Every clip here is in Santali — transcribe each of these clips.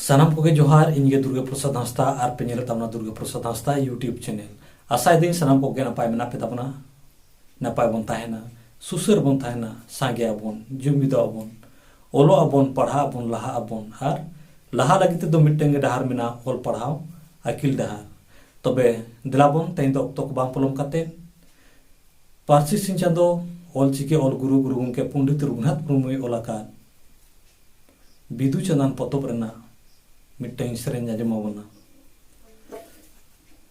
ᱥᱟᱱᱟᱢ ᱠᱚᱜᱮ ᱡᱚᱦᱟᱨ ᱤᱧ ᱜᱮ ᱫᱩᱨᱜᱟ ᱯᱨᱚᱥᱟᱫᱽ ᱦᱟᱸᱥᱫᱟ ᱟᱨ ᱯᱮ ᱧᱮᱞᱮᱫ ᱛᱟᱵᱚᱱᱟ ᱫᱩᱨᱜᱟ ᱯᱨᱚᱥᱟᱫᱽ ᱦᱟᱸᱥᱫᱟ ᱤᱭᱩᱴᱤᱭᱩᱵᱽ ᱪᱮᱱᱮᱞ ᱟᱥᱟᱭᱮᱫᱟᱹᱧ ᱥᱟᱱᱟᱢ ᱠᱚᱜᱮ ᱱᱟᱯᱟᱭ ᱢᱮᱱᱟᱜ ᱯᱮ ᱛᱟᱵᱚᱱᱟ ᱱᱟᱯᱟᱭ ᱵᱚᱱ ᱛᱟᱦᱮᱱᱟ ᱥᱩᱥᱟᱹᱨ ᱵᱚᱱ ᱛᱟᱦᱮᱱᱟ ᱥᱟᱸᱜᱮ ᱟᱵᱚᱱ ᱡᱩᱢᱤᱫᱚᱜ ᱟᱵᱚᱱ ᱚᱞᱚᱜ ᱟᱵᱚᱱ ᱯᱟᱲᱦᱟᱜ ᱟᱵᱚᱱ ᱞᱟᱦᱟᱜ ᱟᱵᱚᱱ ᱟᱨ ᱞᱟᱦᱟ ᱞᱟᱹᱜᱤᱫ ᱛᱮᱫᱚ ᱢᱤᱫᱴᱟᱝ ᱜᱮ ᱰᱟᱦᱟᱨ ᱢᱮᱱᱟᱜᱼᱟ ᱚᱞ ᱯᱟᱲᱦᱟᱣ ᱟᱹᱠᱤᱞ ᱰᱟᱦᱟᱨ ᱛᱚᱵᱮ ᱫᱮᱞᱟ ᱵᱚᱱ ᱛᱮᱦᱮᱧ ᱫᱚ ᱚᱠᱛᱚ ᱠᱚ ᱵᱟᱝ ᱯᱚᱞᱚᱢ ᱠᱟᱛᱮ ᱯᱟᱹᱨᱥᱤ ᱥᱤᱧ ᱪᱟᱸᱫᱚ ᱚᱞ ᱪᱤᱠᱤ ᱚᱞ ᱜᱩᱨᱩ ᱜᱩᱨᱩ ᱜᱚᱢᱠᱮ ᱯᱚᱱᱰᱤᱛ ᱨᱚᱜᱷᱩᱱᱟᱛᱷ ᱢᱩᱨᱢᱩᱭ ᱚᱞ ᱟᱠᱟᱫ ᱵᱤᱫᱩ ᱪᱟᱸᱫᱟᱱ ᱯᱚᱛᱚᱵ ᱨᱮᱱᱟᱜ ᱢᱤᱫᱴᱟᱝ ᱥᱮᱨᱮᱧ ᱟᱸᱡᱚᱢ ᱟᱵᱚᱱᱟ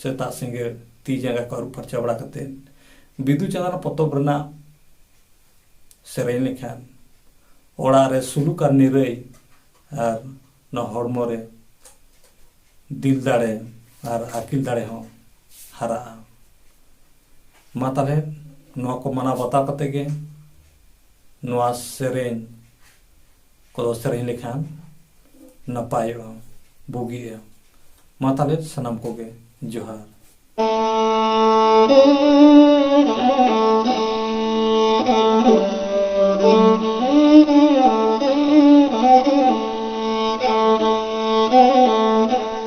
ᱥᱮᱛᱟᱜ ᱥᱤᱸᱜᱟᱹᱲ ᱛᱤ ᱡᱟᱸᱜᱟ ᱠᱚ ᱟᱹᱨᱩᱵ ᱯᱷᱟᱨᱪᱟ ᱵᱟᱲᱟ ᱠᱟᱛᱮᱫ ᱵᱤᱫᱩ ᱪᱟᱸᱫᱟᱱ ᱯᱚᱛᱚᱵ ᱨᱮᱱᱟᱜ ᱥᱮᱨᱮᱧ ᱞᱮᱠᱷᱟᱱ ᱚᱲᱟᱜ ᱨᱮ ᱥᱩᱞᱩᱠ ᱟᱨ ᱱᱤᱨᱟᱹᱭ ᱟᱨ ᱱᱚᱣᱟ ᱦᱚᱲᱢᱚ ᱨᱮ ᱫᱤᱞ ᱫᱟᱲᱮ ᱟᱨ ᱟᱹᱠᱤᱞ ᱫᱟᱲᱮ ᱦᱚᱸ ᱦᱟᱨᱟᱜᱼᱟ ᱢᱟ ᱛᱟᱦᱚᱞᱮ ᱱᱚᱣᱟ ᱠᱚ ᱢᱟᱱᱟᱣ ᱵᱟᱛᱟᱣ ᱠᱟᱛᱮᱫ ᱜᱮ ᱱᱚᱣᱟ ᱥᱮᱨᱮᱧ ᱠᱚ ᱥᱮᱨᱮᱧ ᱞᱮᱠᱷᱟᱱ ᱱᱟᱯᱟᱭᱚᱜᱼᱟ ᱵᱩᱜᱤᱜᱼᱟ ᱢᱟ ᱛᱟᱦᱚᱞᱮ ᱥᱟᱱᱟᱢ ᱠᱚᱜᱮ ᱡᱚᱦᱟᱨ